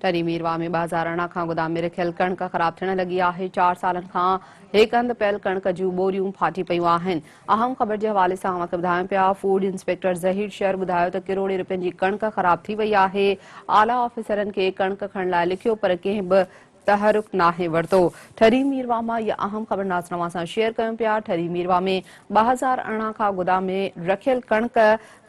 ٽري مير واهه ۾ ٻهزار اڻا کان گدام ۾ رکيل ڪڻڪ خراب ٿيڻ لڳي آهي، چار سالن کان هڪ هنڌ پيل ڪڻڪ جون ٻوريون ڦاٽي پيون آهن، اهم خبر جي حوالي سان اوهان کي ٻڌايون پيا، فوڊ انسپيڪٽر ظهير شر ٻڌايو ته ڪروڙين رپين جي ڪڻڪ خراب ٿي وئي آهي، اعليٰ آفيسرن کي ڪڻڪ کڻڻ لاء لکيو پر ڪنهن به تحرڪ ناهي ورتو، ٺري مير واهه مان اها اهم خبر ناظرن اوهان سان شيئر ڪيون پيا، ٺري مير واهه ۾ ٻهزار اڻا کان گدام ۾ رکيل ڪڻڪ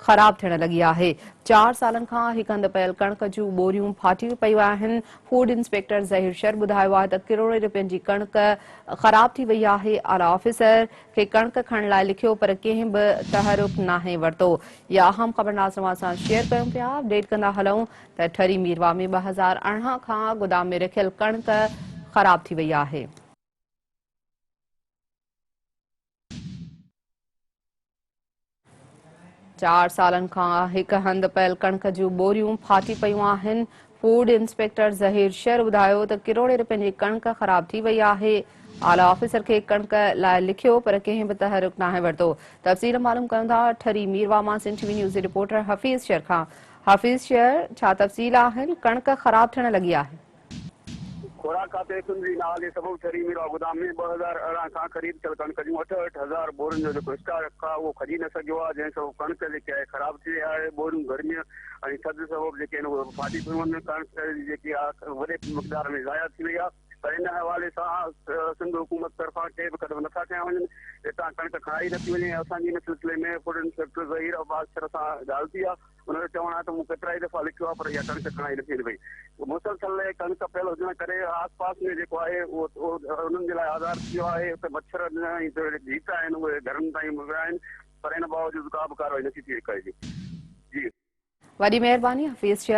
خراب ٿيڻ لڳي آهي، چار سالن کان هڪ هنڌ پيل ڪڻڪ جون ٻوريون ڦاٽي پيون آهن، فوڊ انسپيڪٽر ظهير شر ٻڌايو آهي ته ڪروڙين رپين جي ڪڻڪ خراب ٿي وئي آهي، اعليٰ آفيسر کي ڪڻڪ کڻڻ لاء لکيو پر ڪنهن به تحرڪ ناهي ورتو، اها اهم خبرناز توهان سان شيئر ڪيون پيا، اپڊيٽ ڪندا هلون ته ٺري ميرواهه ۾ ٻه هزار ارڙهن کان گودام ۾ رکيل ڪڻڪ خراب ٿي وئي آهي. چار سالن کان هڪ هنڌ پيل ڪڻڪ جون ٻوريون ڦاٽي پيون آهن فوڊ انسپيڪٽر ظهير شر ٻڌايو ته ڪروڙين رپين جي ڪڻڪ خراب ٿي وئي آهي اعليٰ آفيسر کي ڪڻڪ لاء لکيو پر ڪنهن به تحرڪ ناهي ورتو تفصيل معلوم ڪيون ٿا ٺري ميروا مان سنڌ ٽي وي نيوز جي رپورٽر حفيظ شر کان حفيظ شر ڇا تفصيل آهن ڪڻڪ خراب ٿيڻ لڳي آهي خوراڪ کاتي سنڌ جي نالي سبب ٺري ميرواھ گودام ۾ ٻه هزار ارڙهن کان خريد ٿيل ڪڻڪ جون اٺ اٺ هزار ٻورين جو جيڪو اسٽاڪ آهي اهو کڄي نه سگهيو آهي جنهن سبب ڪڻڪ جيڪي آهي خراب ٿي وئي آهي ٻوريون گرمي ۽ ٿڌ سبب جيڪي آهن اهي ڦاٽي پيون وڃن ڪڻڪ جيڪي آهي وڏي مقدار ۾ ضايع ٿي وئي آهي پر ان حوالي سان سنڌ حڪومت طرفان ڪي به قدم نٿا کنيا وڃن هتان ڪڻڪ کڻائي نٿي وڃي اسان جي ان سلسلي ۾ فوڊ انسپيڪٽر ظهير عباس سر سان ڳالهه ٿي آهي ان جو چوڻ آهي ته مون ڪيترائي دفعا لکيو آهي پر اها ڪڻڪ کڻائي نٿي وڃي پئي. مسلسل ڪڻڪ پيل هجڻ ڪري آس پاس ۾ جيڪو آهي اهو انهن جي لاء آزار ٿي ويو آهي. اتي مڇر ۽ جيڪي جيت آهن اهي گهرن تائين ويا آهن پر ان باوجود ڪا به ڪارروائي نٿي ٿي رڪائجي. وڏي مهرباني حفيظ شيخ.